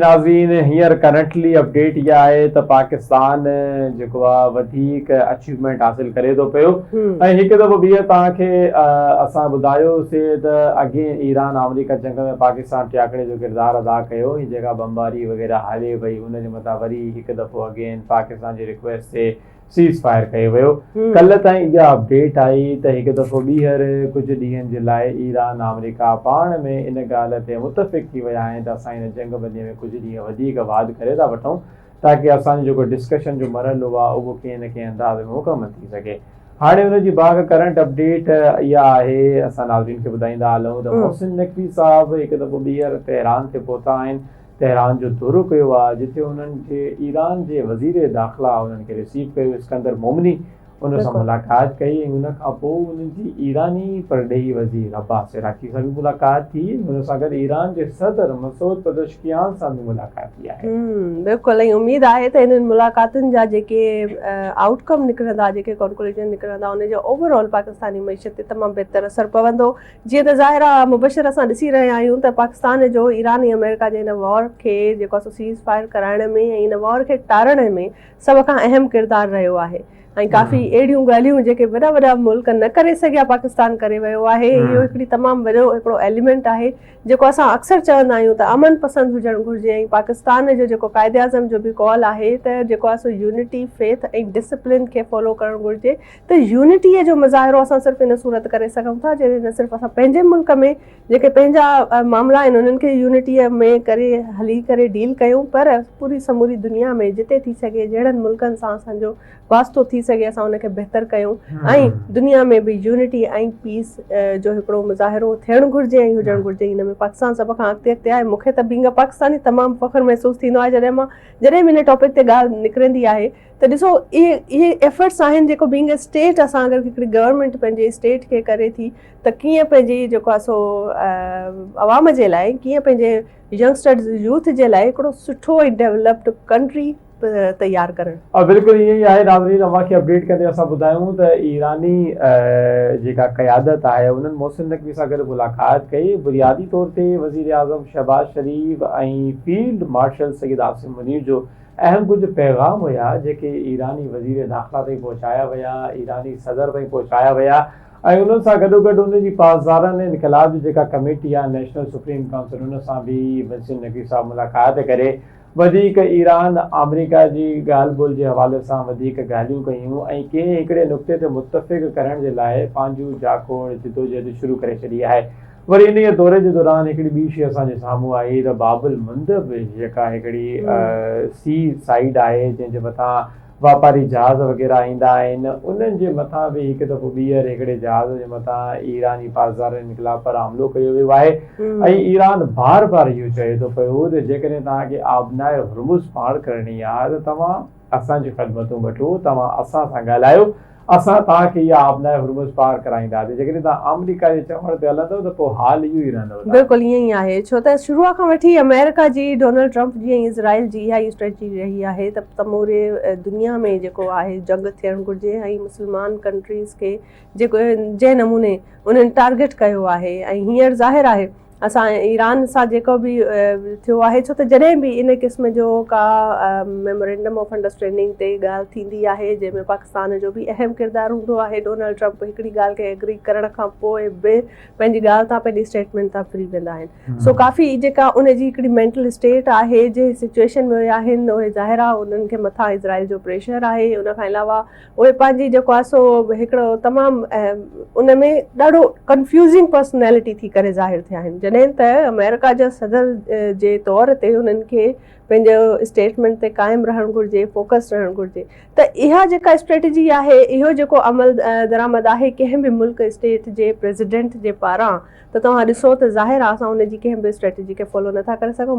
ناظرين هينئر currently update اها آهي ته پاڪستان جيڪو آهي وڌيڪ اچيومينٽ حاصل ڪري ٿو پيو ۽ هڪ دفعو ٻيهر توهان کي اسان ٻڌايو سي ته اگين ايران آمريڪا جنگ ۾ پاڪستان ٽياڪڙي جو ڪردار ادا ڪيو هي جيڪا بمباري وغيره هلي پئي ان جي مٿان وري هڪ دفعو اگين پاڪستان جي رڪويسٽ تي سيز فائر ڪيو ويو. ڪلهه تائين اها اپڊيٽ آئي ته هڪ دفعو ٻيهر ڪجهه ڏينهن جي لاء ايران آمريڪا پاڻ ۾ ان ڳالهه تي متفق ٿي ويا آهن ته اسان هن جنگ بندي ۾ ڪجهه ڏينهن وڌيڪ واڌ ڪري ٿا وٺون تاڪه اسان جو جيڪو ڊسڪشن جو مرحلو آهي اهو ڪنهن نه ڪنهن انداز ۾ مڪمل ٿي سگهي هاڻي ان جي باهه ڪرنٽ اپڊيٽ اها آهي اسان ناظرين کي ٻڌائيندا هلون ته محسن نقوي صاحب هڪ دفعو ٻيهر تهران تي پهتا آهن تهران جو دورو ڪيو آهي جتي انهن کي ايران جي وزير داخلا انهن کي رسيو ڪيو اسڪندر مومني ان سان ملاقات ڪئي ۽ ان کانپوء انهن جي ايراني پرڏيهي وزير عباس عراقي سان به ملاقات ٿي ۽ ان سان گڏ ايران جي صدر مسعود پزشڪيان سان به ملاقات ٿي آهي بلڪل ۽ اميد آهي ته انهن ملاقاتن جا جيڪي آئوٽ ڪم نڪرندا جيڪي ڪنڪلوجن نڪرندا ان جو اوور آل پاڪستاني معيشت تي تمام بهتر اثر پوندو جيئن ته ظاهر آ مبشر اسان ڏسي رهيا آهيون ته پاڪستان جو ايران ۽ آمريڪا جي هن وار کي جيڪو آسو سيز فائر ڪرائڻ ۾ ۽ ان وار کي ٽارڻ ۾ سڀ کان اهم ڪردار رهيو آهي ۽ ڪافي اهڙيون ڳالهيون جيڪي وڏا وڏا ملڪ نه ڪري سگهيا پاڪستان ڪري ويو آهي اهو هڪڙي تمام وڏو هڪڙو ايليمينٽ آهي جيڪو اسان اڪثر چوندا آهيون ته امن پسند هجڻ گهرجي ۽ پاڪستان جو جيڪو قائد اعظم جو به قول آهي ته جيڪو آسو يونٽي فيٿ ۽ ڊسپلين کي فالو ڪرڻ گهرجي ته يونٽيء جو مظاهرو اسان صرف ان صورت ڪري سگهون ٿا جڏهن نه صرف اسان پنهنجي ملڪ ۾ جيڪي پنهنجا معاملا آهن انهن کي يونٽيء ۾ ڪري هلي ڪري ڊيل ڪيون پر پوري سموري دنيا ۾ جتي ٿي سگهي جهڙن ملڪن سان اسان جو واسطو ٿي سگهي اسان ان کي بهتر ڪيون ۽ دنيا ۾ به يونٽي ۽ پيس جو هڪڙو مظاهرو ٿيڻ گهرجي ۽ هجڻ گهرجي ان ۾ پاڪستان سڀ کان اڳتي اڳتي آهي مون کي ته بينگ ا پاڪستاني تمام فخر محسوس ٿيندو آهي جڏهن مان جڏهن به ان ٽاپڪ تي ڳالهه نڪرندي آهي ته ڏسو اهي اهي ايفرٽس آهن جيڪو بينگ اي اسٽيٽ اسان اگر هڪڙي گورنمينٽ پنهنجي اسٽيٽ کي ڪري ٿي ته ڪيئن پنهنجي جيڪو آهي سو عوام جي لاء ڪيئن پنهنجي ينگسٽرز يوٿ جي لاء هڪڙو سٺو ۽ ڊيولپڊ ڪنٽري تيار ڪرڻ. بلڪل ائين ئي آهي ناظرين اوهان کي اپڊيٽ ڪندي اسان ٻڌايون ته ايراني جيڪا قيادت آهي انهن محسن نقوي سان گڏ ملاقات ڪئي بنيادي طور تي وزيراعظم شهباز شريف ۽ فيلڊ مارشل سيد عاصم منير جو اهم ڪجهه پيغام هيا جيڪي ايراني وزير داخلا تائين پهچايا ويا، ايراني صدر تائين پهچايا ويا ۽ انهن سان گڏوگڏ ان جي پاسداران انقلاب جي جيڪا ڪميٽي آهي نيشنل سپريم ڪائونسل ان سان به محسن نقوي صاحب ملاقات ڪري وڌيڪ ايران آمريڪا جي ڳالهه ٻولهه جي حوالي سان وڌيڪ ڳالهيون ڪيون ۽ ڪنهن هڪڙي نقطي تي متفق ڪرڻ جي لاء پنهنجون جاکوڙ جدوجهد شروع ڪري ڇڏي آهي. وري انهيء دوري جي دوران هڪڙي ٻي شيء اسان جي سامهون آئي ته باب المندب جيڪا هڪڙي سي سائيڊ آهي جنهن جي مٿان واپاري جهاز وغيره ايندا آهن انهن جي مٿان به هڪ دفعو ٻيهر هڪڙي جهاز جي مٿان ايراني پاسدارن انقلاب پر حملو ڪيو ويو آهي ۽ ايران بار بار اهو چئي ٿو پيو ته جيڪڏهن توهان کي آبناء هرمز پار ڪرڻي آهي ته توهان اسان جون خدمتون وٺو، توهان اسان سان ڳالهايو، اسان توهان کي اها آبناء هرمز پار ڪرائينداسين. جيڪڏهن توهان آمريڪا جي چوڻ تي هلندؤ ته پوء حال اهو ئي رهندؤ. بلڪل ائين ئي آهي، ڇو ته شروع کان وٺي آمريڪا جي ڊونلڊ ٽرمپ جي ۽ اسرائيل جي اها ئي اسٽريٽجي رهي آهي ته سموري دنيا ۾ جيڪو آهي جنگ ٿيڻ گهرجي ۽ مسلمان ڪنٽريز کي جيڪو جنهن نموني انهن ٽارگيٽ ڪيو آهي ۽ هينئر ظاهر آهي اسان ايران سان جيڪو به ٿيو آهي ڇو ته جڏهن به ان قسم جو ڪا ميمورينڊم آف انڊرسٽينڊنگ تي ڳالهه ٿيندي آهي جنهن ۾ پاڪستان جو به اهم ڪردار هوندو آهي ڊونلڊ ٽرمپ هڪڙي ڳالهه کي ايگري ڪرڻ کان پوء به پنهنجي ڳالهه تان پنهنجي اسٽيٽمينٽ تان ڦري ويندا آهن سو ڪافي جيڪا ان جي هڪڙي مينٽل اسٽيٽ آهي جنهن سچويشن ۾ آهن اهي ظاهر آهي انهن کي مٿان اسرائيل جو پريشر آهي ان کان علاوه اهي پنهنجي جيڪو آهي سو هڪڙو تمام ان ۾ ڏاڍو ڪنفيوزنگ پرسنالٽي ٿي ڪري ظاهر ٿيا آهن جڏهن ته آمريڪا جا صدر جي طور تي انهن کي پنهنجو اسٽيٽمينٽ تي قائم رهڻ گهرجي فوڪس رهڻ گهرجي ته اها جيڪا اسٽريٽجي آهي اهو جيڪو عمل درآمد آهي ڪنهن به ملڪ اسٽيٽ جي پريزيڊنٽ جي پاران ته توهان ڏسو ته ظاهر آهي اسان ان جي ڪنهن به اسٽريٽجي کي فالو نٿا ڪري سگهون